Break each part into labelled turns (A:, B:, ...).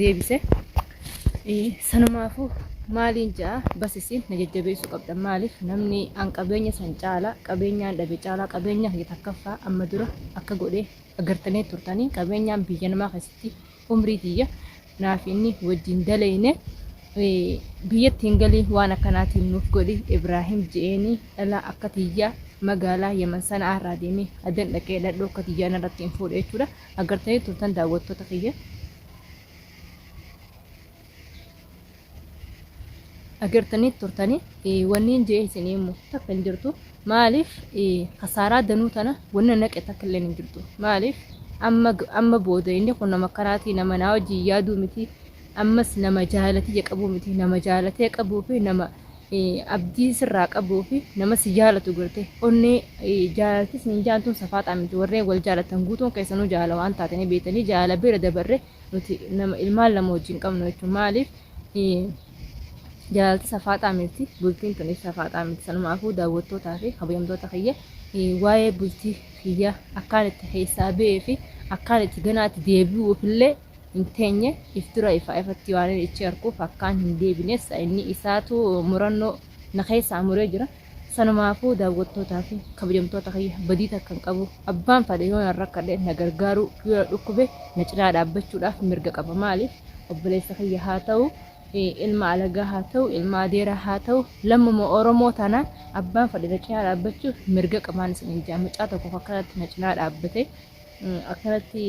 A: deebise sanumaafuu maaliin ja'a basisiin na jajjabeessuu qabdan maaliif namni an qabeenya san caala qabeenyaan dhabe caalaa qabeenyaa kiyya takkaffaa amma dura akka godhee agartanii turtanii qabeenyaan biyya namaa keessatti umrii tiyya naaf inni wajjin daleeyne biyyatti hin galii waan akkanaatiin nuuf godhi Ibraahim je'eenii dhalaa akka tiyyaa magaalaa Yaman sana irraa deemee adan dhaqee dhadhoo akka tiyyaa narratti hin fuudhe jechuudha agartanii turtan daawwattoota kiyya. agartanii turtanii wanniin jee isinii immoo takka hin jirtu maaliif kasaaraa danuu tana wanna naqe takka illee hin jirtu maaliif amma amma booda inni kun nama akkanaatii nama naa wajjin yaaduu miti ammas nama jaalatii qabuu miti nama jaalatee qabuu fi nama abdii sirraa qabuu fi nama si jaalatu garte onnee jaalaltis ni jaaltuun safaaxaa miti warreen wal jaalatan guutuun keessanuu jaalala waan taate ni beektanii jaalala bira dabarre nuti nama ilmaan lama wajjin qabnu jechuun maaliif jaalalti safaaxaa miti bultiin tunis safaaxaa miti sanumaafuu daawwattootaa fi kabajamtoota kiyya waa'ee bultii kiyya akkaan itti keessaa ba'ee fi akkaan itti ganaatti deebi'uuf illee hin teenye if dura ifaa ifatti waanin ichi arkuuf akkaan hin deebine sa'inni isaatu murannoo na keessaa muree jira. Sanumaafuu daawwattootaa fi kabajamtoota kiyya badii takka hin qabu. Abbaan fadhe yoo nan rakkadhe na gargaaruu, yoo na dhukkube na cinaa dhaabbachuudhaaf mirga qaba. Maaliif obboleessa kiyya haa ta'u, ilma alagaa haa ta'u, ilma adeeraa haa ta'u, lammuma Oromoo taanaan abbaan fadhe na cinaa dhaabbachuuf mirga qabaan isiniin jaa. Mucaa tokkoof akkanatti na cinaa dhaabbate. akkanatti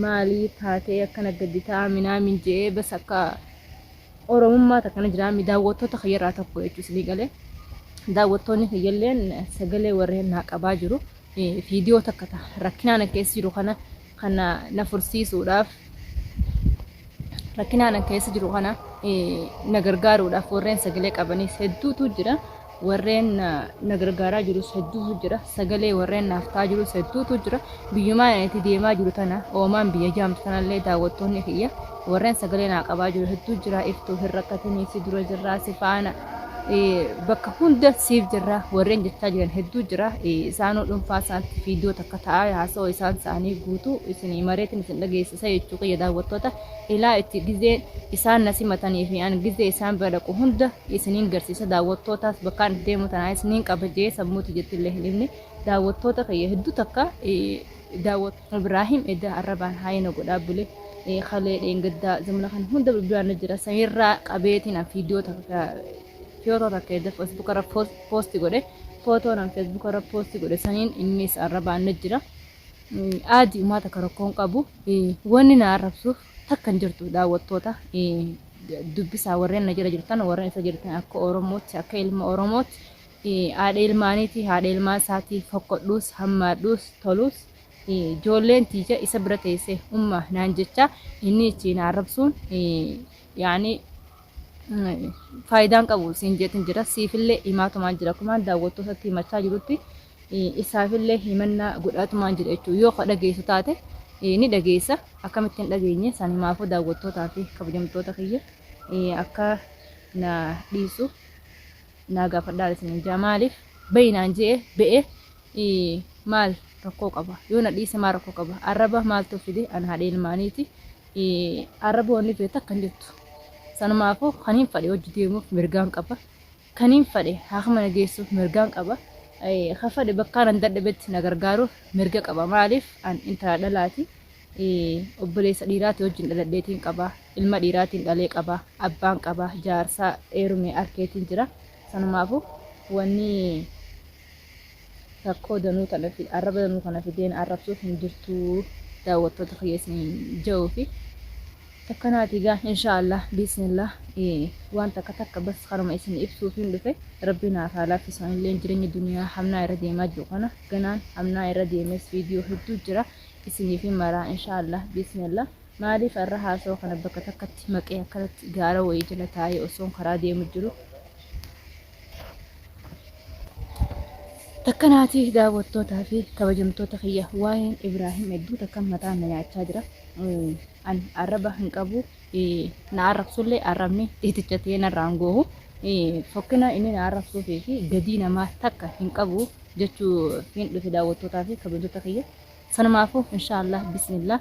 A: maalii taatee akkana gaddi ta'a minaamin je'ee bas akka oromummaa takkana jiraami daawwattoota kiyyarraa tokko jechuu isinii galee daawwattoonni kiyyalleen sagalee warreen naa qabaa jiru viidiyoo takka ta'a rakkinaan keessa jiru kana kana na fursiisuudhaaf rakkinaan keessa jiru kana na gargaaruudhaaf warreen sagalee qabanis hedduutu jira. warreen na, na gargaaraa jirus hedduutu jira sagalee warreen naaf ta'aa jirus hedduutu jira biyyumaan ani itti deemaa jiru tana oomaan biyya jaamtu tanallee daawwattoonni kiyya warreen sagalee naa qabaa jiru hedduu jira iftuu hin rakkatinii si dura jirraa si faana eh, bakka hunda siif jirra warreen jechaa jiran hedduu jira eh, isaanuu dhuunfaa isaanitti fiidiyoo takka ta'aa haasawaa isaan isaanii guutuu isin mareetiin isin dhageessisa jechuu kiyya daawwattoota Ilaa itti gizee isaan na simatanii fi an gizee isaan bira dhaqu hunda isiniin garsiisa daawwattootaas bakkaan itti deemu tanaanis niin qaba jee sammuuti jettillee hin dhibne daawwattoota kiyya hedduu takka daawwat Ibraahim edda arrabaan haayina godhaa bule kalee dheengaddaa zamana kan hunda bilbilaan na jira sanirraa qabeetiin an fiidiyoo takka fiyootoo takka edda feesbuuk irra poosti godhe footoon an feesbuuk irra poosti godhe saniin innis arrabaan na jira Aadi umaa takka rakkoo hin qabu. Wanni na arrabsuuf takka hin jirtu daawwattoota dubbisaa warreen na jala jirtan warreen isa jirtan akka Oromootti akka ilma Oromootti haadha ilmaaniiti haadha ilmaan isaatii fokkodhuus hammaadhuus toluus ijoolleen tiija isa bira teessee umma naan jecha inni ittiin arrabsuun yaani faayidaan qabu siin jeetin jira siifillee himaatumaan jira kumaan daawwattootatti himachaa jirutti. isaafillee himannaa godhaatumaan jira jechuudha. Yoo ka dhageessu taate ni dhageessa. Akkamitti hin dhageenye san himaafuu daawwattootaa fi kabajamtoota kiyya akka na dhiisu naa gaafadhaan isin jaa maaliif bayinaan je'e be'e maal rakkoo qaba yoo na dhiise maal rakkoo qaba arraba maaltu fide an haadha ilmaaniiti arraba wanni fide takka hin jirtu sanumaafuu kan hin fadhe hojii deemuuf mirgaan qaba. Kaniin fadhe haakima na geessuuf mirgaan qaba. Kan fadhe bakkaan an dadhabetti na gargaaruuf mirga qaba. Maaliif an intala dhalaati. Obboleessa dhiiraati wajjin dhaladheetiin qaba. Ilma dhiiraatiin dhalee qaba. Abbaan qaba. Jaarsaa eerume arkeetiin jira. Sanumaafuu wanni Rakkoo danuu tana fi arraba danuu kana fideen arrabsuuf hin jirtuu daawwattoota kiyya isin ja'uu fi takkanaati gaa inshaallah biisnillah waan takka takka bas kanuma isin ibsuuf hin dhufe rabbi naaf haa laaffisu anillee jireenya duniyaa hamnaa irra deemaa jiru kana ganaan hamnaa irra deemes viidiyoo hedduu jira isiniif hin maraa inshaallah biisnillah maaliif arra haasoo kana bakka takkatti maqee akkanatti gaara wayii jala taa'ee osoon karaa deemu jiru Akkanaati daawwattootaa fi kabajamtoota kiyya waa'een Ibraahim hedduu takka mataa na nyaachaa jira. An arraba hin qabu na arrabsullee arrabni xiiticha ta'ee narraa hin goohu. Fokkina inni na arrabsuu fi gadii namaa takka hin qabu jechuu hin dhufe daawwattootaa fi kabajamtoota kiyya. Sanumaafuu inshaallah bismillah.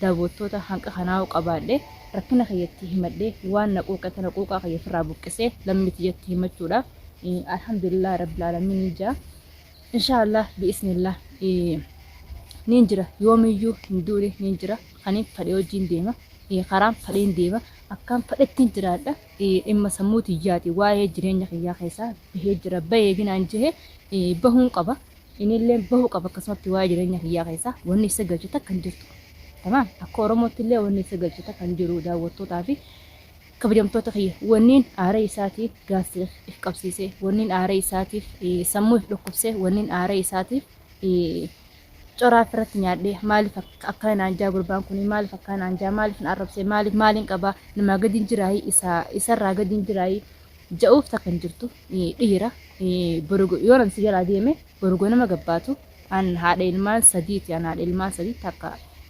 A: daawwattoota hanqa kanaa'u qabaadhe rakkina kiyya itti himadhe waan na quuqe tana quuqaa kiyya ofirraa buqqisee lammii tiyyatti himachuudha alhamdulillah rabbil aalamiin ija inshaallah bi'isnillah niin jira yoomiyyuu hin duune niin jira kaniin fadhe hojiin deema karaan fadheen deema akkaan fadhettiin jiraadha dhimma sammuu tiyyaati waa'ee jireenya kiyyaa keessaa bahee jira bahee ginaan jehe bahuun qaba Inilleen bahu qaba akkasumatti waa'ee jireenya kiyyaa keessa wanni issa galchu takka hin jirtu. Tamaam akka Oromootti illee wanni issa galchu takka hin jiru daawwattootaa fi kabajamtoota kiyya wanniin aaree isaatiin gaazexaa if qabsiisee wanniin aaree isaatiif sammuu if dhukkubsee wanniin aaree isaatiif coraa irratti nyaadhee maaliif akkana naan jaa gurbaan kun maaliif akkana naan jaa maaliif na arrabsee maaliif maaliin qabaa namaa gadiin jiraayii isarraa gadiin jiraayii ja'uuf takka hin jirtu dhiira borugo yoonan si jalaa deeme borugo nama gabbaatu an haadha ilmaan sadiiti an haadha ilmaan sadii takka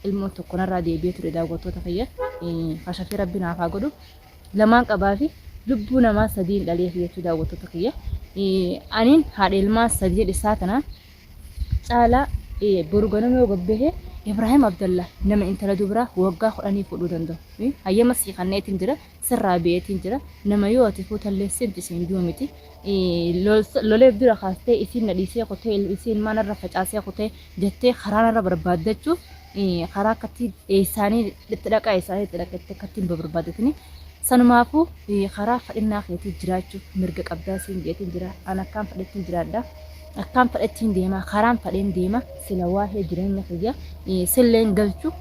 A: ilmoo tokko narraa deebi'ee ture daawwattoota kiyya kashafii rabbi naaf haa godhu lamaan qabaa fi lubbuu namaa sadiin dhalee fi jechuu daawwattoota kiyya aniin haadha ilmaan sadii dhisaa kana caalaa borugo nama yoo gabbehe Ibrahim Abdallah nama intala dubraa waggaa kudhanii fuudhuu danda'u hayyama sii kanneetiin jira sirraa beetiin jira nama yoo ati fuutallee siif jiseen duu miti lolee bira kaastee isiin na dhiisee kutee isiin mana irra facaasee kutee jettee karaa irra barbaaddachuuf karaa akkatti eessaanii itti dhaqaa eessaanii itti dhaqa itti akkatti hin barbaaddatini sanumaafuu karaa fadhinnaa keetii jiraachuuf mirga qabdaa siin jeetiin jira an akkaan fadhettiin jiraadha. akkaan fedhattiin deema karaan fedheen deema sila waa'ee jireenya kiyya silleen galchu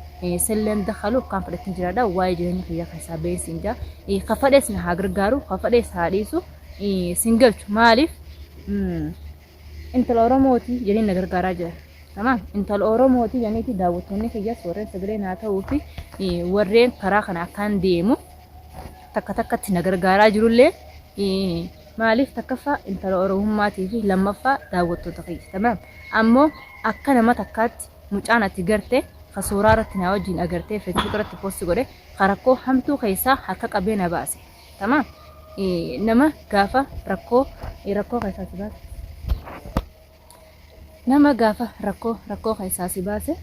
A: silleen dakalu akkaan fedhattiin jiraadha waa'ee jireenya kiyya keessaa ba'een siin jaa ka fedhees na haa gargaaru ka fedhees haa dhiisu siin galchu maaliif intala oromooti jedheen na gargaaraa jira. Tamam intala oromooti jedhaniiti daawwattoonni kiyyas warreen sagalee naa ta'uu fi warreen karaa kana akkaan deemu takka takkatti na gargaaraa jirullee Maaliif takkaffaa intala oromummaati fi lammaffaa daawwattoota kiyya tamaam ammoo akka nama takkaatti mucaan ati garte ka suuraa irratti naa wajjiin agartee facebook irratti post godhe ka rakkoo hamtuu keessaa harka qabee na baase tamaam nama gaafa rakkoo rakkoo keessaa si baase nama gaafa rakkoo rakkoo keessaa si baase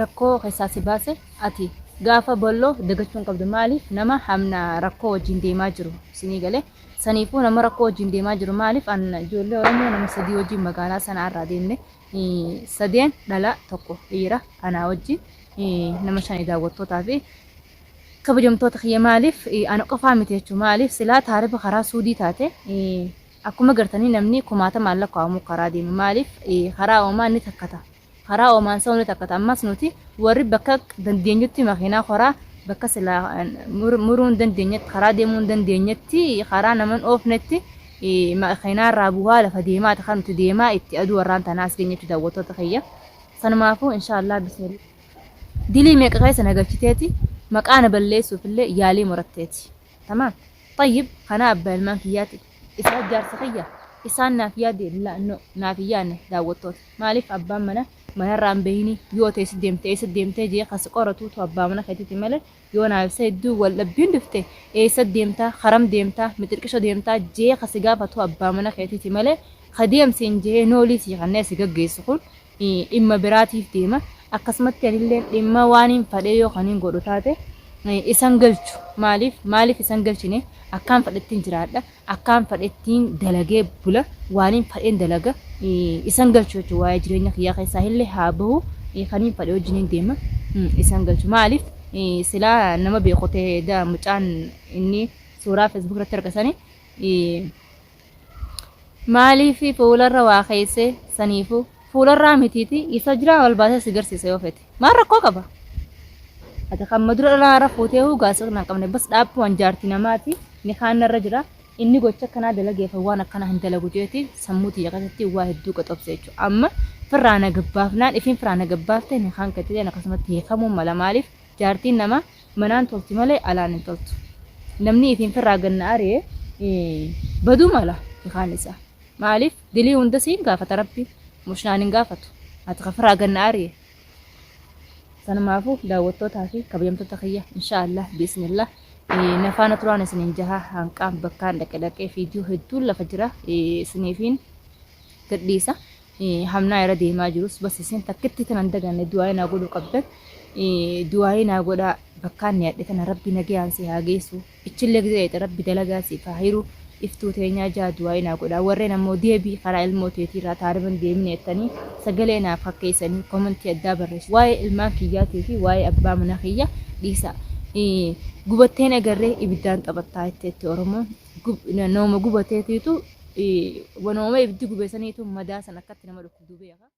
A: rakkoo keessaa si baase ati gaafa balloo dagachuu hin qabdu maaliif nama hamna rakkoo wajjin deemaa jiru sinii galee saniifuu nama rakkoo wajjin deemaa jiru maaliif an ijoollee oromoo nama sadii wajjin magaalaa sanaa irraa deemne eh, sadeen dhala tokko dhiira anaa wajjin eh, nama shani daawwattootaa fi kabajamtoota kiyya maaliif eh, ana qofaa miti jechuun maaliif silaa taarifa karaa suudii taate eh, akkuma gartanii namni kumaatamaan lakkaa'amu karaa deemu maaliif eh, karaa uumaa ni takkata karaa oomaan isa hunda takkata ammas nuti warri bakka dandeenyutti makiinaa koraa bakka silaa muruu hin dandeenyetti karaa deemuu hin dandeenyetti karaa naman oofnetti makiinaa irraa bu'aa lafa deemaati kan nuti deemaa itti aduu warraan tanaa as geenyetti daawwattoota kiyya sanumaafuu inshaallah bismillah dilii meeqa keessa nagachiteeti maqaa na balleessuuf illee yaalii muratteeti tamaam tayyib kanaa abbaa ilmaan kiyyaati isaa jaarsa kiyya isaan naaf yaade naaf yaanne daawwattoota Maaliif abbaan mana manarraa hin bahinii yoo ta'e eessa deemte eessa deemtee jee kan si qoratuutu abbaa mana keetiiti malee yoo naaf sayidduu wal dhabbiin dhufte eessa deemtaa haram deemtaa mixirqisho deemtaa jee kan si gaafatu abbaa mana keetiiti malee ka deem siin jee noolii sii kannee si gaggeessu kun dhimma biraatiif deema akkasumatti anilleen dhimma waaniin fadhee yoo kaniin godhu taate isan galchu maaliif maaliif isan galchine akkaan fadhettiin jiraadha akkaan fadhettiin dalagee bula waaniin fadheen dalaga isan galchu jechuudha waa'ee jireenya kiyyaa keessaa illee haa bahu kaniin fadhe wajjiniin deema isan galchu maaliif silaa nama beekotee daa mucaan inni suuraa feesbuuk irratti argasanii maaliif fuularra waa keessee saniifuu Fuularraa mitiiti isa jiraa wal baasee si garsiisa yoo fete. Maal rakkoo qaba? Ati kan madura dhalaa irra fuutee huu gaasa kana hin qabne bas dhaabbumaan jaartii namaati ni kaanna irra jira. Inni gocha akkanaa dalageefa waan akkanaa hin dalagu jeeti sammuu tiyya keessatti waa hedduu qaxobse jechuudha. Amma firraa na gabbaafnaan ifiin firraa na gabbaafte ni kaan katileen akkasumatti hiikamuu mala maaliif jaartiin namaa manaan tolti malee alaan hin toltu. Namni ifiin firraa ganna ari'e baduu mala ni kaan isaa. Maalif dilii hunda siin gaafata rabbiin mush naan hin gaafatu ati kafiraa ganna ariye sanumaafu daawwattootaa fi kabajamtoota kiyya insha Allah biismillah na faana turaan isiniin jaha hanqaan bakkaan dhaqe dhaqee fiidiyoo hedduun lafa jira isiniifiin gadhiisa hamnaa irra deemaa jirus bas isin takkitti tanan daganne du'aa'ee naa godhuu qabdan du'aa'ee naa godhaa bakkaan ni hadhe tana rabbi nagayaan si haa geessu Ichille gizee dhayxe rabbi dalagaa siif haa hiru iftuu teenyaa jaa du'aa'ii naa godhaa warreen ammoo deebi karaa ilmoo teetii irraa taariban deemine jettanii sagalee naaf kakkeeysanii komentii addaa barreessu waa'ee ilmaan kiyyaatii fi waa'ee abbaa manaa kiyya dhiisaa gubatteen agarree ibiddaan taphattaa jetteetti oromoon nooma gubateetiitu wanooma ibiddi gubeesaniitu madaa san akkatti nama dhukkubdu beeka